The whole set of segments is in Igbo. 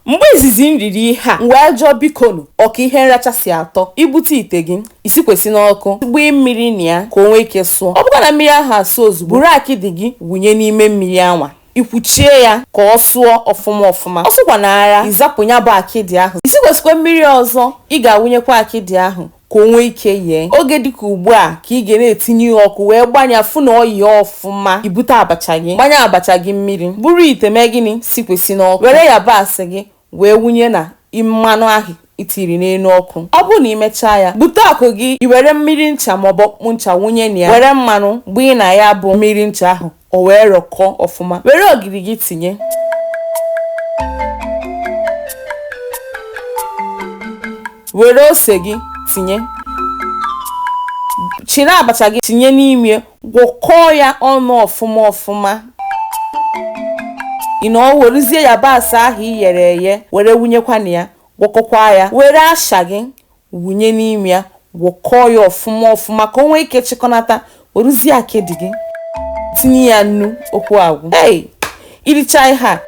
Mgbe izizi m riri ihe a, m wee jụọ, Bikonu, ọ ka ihe nracha si atọ? I bute ite gị, i sikwesị n'ọkụ, gbanye mmiri na ya ka o nwee ike sụọ. Ọ bụkwa na mmiri ahụ asụọ ozugbo, buru akịdị gị wụnye n'ime mmiri anwa, i kwuchie ya ka ọ sụọ ọfụma ọfụma. Ọ sụkwanaara, i zapụ ya bụ akịdị ahụ. I sikwesịkwa mmiri ọzọ, ị ga-awụnyekwa akịdị ahụ. ka o nwee ike yee oge dịka ugbu a ka ị ga na-etinye ihe ọkụ wee gbanya fụ na o yee ọfụma i bute abacha gị gbanye abacha gị mmiri buru ite mee gịnị sikwesị n'ọkụ were yabasị gị wee wụnye na mmanụ ahụ i tiri n'elu ọkụ ọ bụrụ na i mechaa ya bute ọkụ gị i were mmiri ncha maọbụ ọkpụkpụ ncha wụnye na ya were mmanụ gbanye na ya bụ mmiri ncha ahụ o wee rọkọọ ọfụma were ogiri gị tinye were ose gị tinye chiri abacha gị tinye n'ime gwọkọọ ya ọnụ ọfụma ọfụma i werezie yabasị ahụ i yere eye were wụnyekwa na ya gwọkọkwa ya were asha gị wụnye n'ime ya gwọkọọ ya ọfụma ọfụma ka o nwee ike chịkọnata werezie akịdị gị tinye ya nnu okwu agwụ i richa ihe a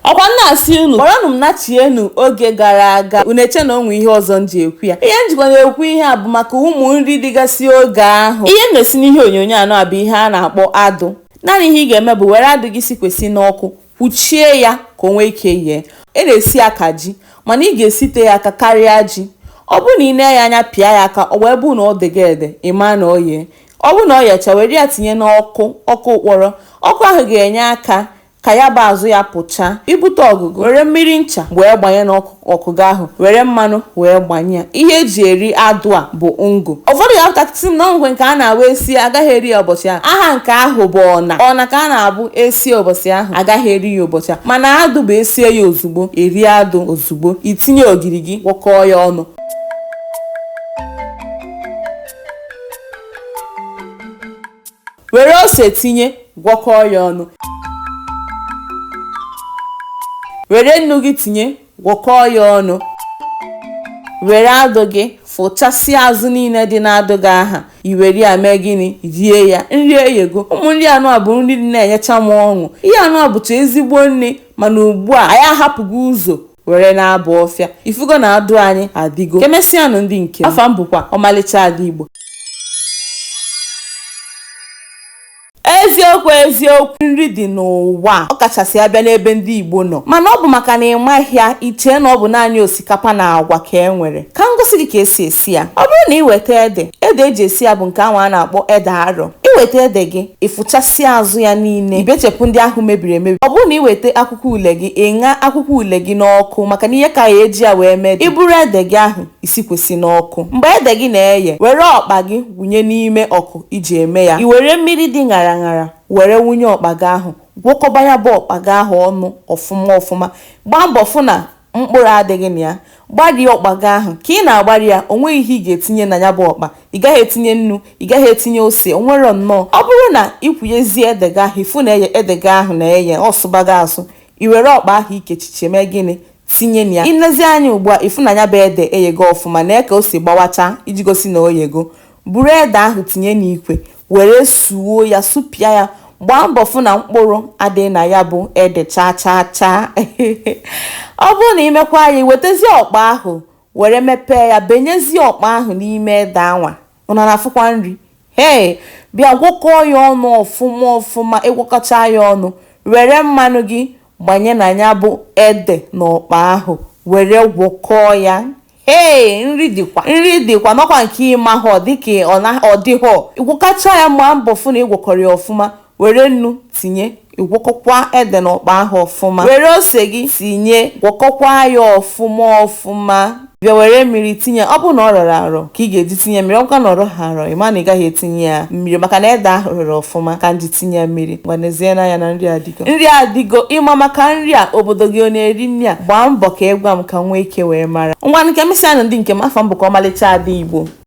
ọkwa m na-asị unu kpọrọnụ m nachienu oge gara aga unu eche na o nwe ihe ọzọ m ji ekwu ya ihe m jikwa na-ekwu ihe a bụ maka ụmụ nri dịgasị oge ahụ ihe m na-esi n'ihe onyonyo anwa bụ ihe a na-akpọ adụ naanị ihe ị ga-eme bụ were adụ gị sikwesị n'ọkụ kwuchie ya ka o nwee ike yee e na-esi ya ka ji mana ị ga-esite ya aka karịa ji ọ bụrụ na i nee ya anya pịa ya aka ọ wee bụrụ na o dego ede ị maa na o yee ọ bụrụ na o yecha were ya tinye n'ọkụ ọkụ ụkpọrọ ọkụ ahụ ga-enye aka ka ya bụ azụ ya pụchaa i bute ọkụ gị were mmiri ncha wee gbanye n'ọkụ ọkụ gị ahụ were mmanụ wee gbanye ya ihe eji eri adụ a bụ ngụ ụfọdụ ga-apụtakwa sị na o nwe nke a na-awụ esie agaghị eri ya ụbọchị ahụ aha nke ahụ bụ ọna ọna ka a na-abụ esie ụbọchị ahụ agaghị eri ya ụbọchị ahụ mana adụ bụ esie ya ozugbo eri adụ ozugbo i tinye ogiri gị gwọkọọ ya ọnụ Were ose tinye, gwọkọọ ya ọnụ. Were nnu gị tinye, gwọkọọ ya ọnụ. Were adụ gị fụchasịa azụ niile dị n'adụ gị ahụ i were ya mee gịnị rie ya nri eyego ụmụ nri anwa bụ nri na-enyecha m ọṅụ ihe anwa bụcha ezigbo nri mana ugbu a anyị ahapụgo ụzọ were na-aba ọfịa ị fụgo na adụ anyị adịgo kemesịanụ ndị nke m afa m bụkwa ọmalịcha ada igbo eziokwu eziokwu nri dị n'ụwa ọ kachasị a bịa n'ebe ndị Igbo nọ mana ọ bụ maka na ị maghị ya i chee na ọ bụ naanị osikapa na agwa ka e nwere ka m gosi gị ka e si esi ya ọ bụrụ na ị weta ede ede eji esi ya bụ nke ahụ a na-akpọ ede arọ i weta ede gị ị fụchasịa azụ ya niile i bechepụ ndị ahụ mebiri emebi ọ bụrụ na ị weta akwụkwọ ule gị ị ṅa akwụkwọ ule gị n'ọkụ maka na ihe ka ya eji ya wee mee i buru ede gị ahụ i sikwesị n'ọkụ mgbe ede gị na-eye were ọkpa gị wụnye n'ime ọkụ iji eme ya i were mmiri dị ṅara ṅara were wụnye ọkpa gị ahụ gwọkọba ya bụ ọkpa gị ahụ ọnụ ọfụma ọfụma gbaa mbọ fụ na mkpụrụ adịghị na ya gbarie ọkpa gị ahụ ka ị na-agbari ya o nweghị ihe ị ga-etinye na ya bụ ọkpa ị gaghị etinye nnu ị gaghị etinye ose o nwere nnọọ ọ bụrụ na ị kwụnyezie ede gị ahụ ị fụ na ede gị ahụ na-eye ọ sụbago asụ i were ọkpa ahụ i kechiche mee gịnị tinye na ya i lezie anya ugbu a ị fụ na ya bụ ede eyego ọfụma nee ka o si gbawacha iji gosi na o yego Buru ede ahụ tinye n'ikwe were suo ya, supịa ya. Gbaa mbọ fụ na mkpụrụ adịghị na ya bụ ede chaa chaa chaa. Ọ bụrụ na i mekwaa ya, i wetezie ọkpa ahụ were mepee ya, benyezie ọkpa ahụ n'ime ede anwa. Unu ana-afụkwa nri? Hei! Bịa gwọkọọ ya ọnụ ọfụma ọfụma. Ị gwọkọchaa ya ọnụ, were mmanụ gị gbanye na ya bụ ede na ọkpa ahụ were gwọkọọ ya. ee nri dịkwa nri dịkwa nọkwa nke ị mahọ dịka ọ dịghọ ị gwọkọchaa ya gbaa mbọ fụ na ị gwọkọrọ ya ọfụma were nnu tinye ị gwọkọkwa ede na ọkpa ahụ ọfụma were ose gị tinye gwọkọkwa ya ọfụma ọfụma bịa were mmiri tinye ọ bụrụ na ọ rọrọ arọ ka ị ga-eji tinye mmiri ọ bụkwa na ọ rọghị arọ ị ma na ị gaghị etinye ya mmiri maka na ede ahụ rọrọ ọfụma ka m ji tinye ya mmiri ngwa nezienụ anya na nri adị nri adịgo ị ma maka nri a obodo gị ọ na-eri nri a gbaa mbọ ka ị gwa m ka m nwee ike wee mara ngwa ka emesịanụ ndị nke m afa m bụkwa ọmalịcha ada igbo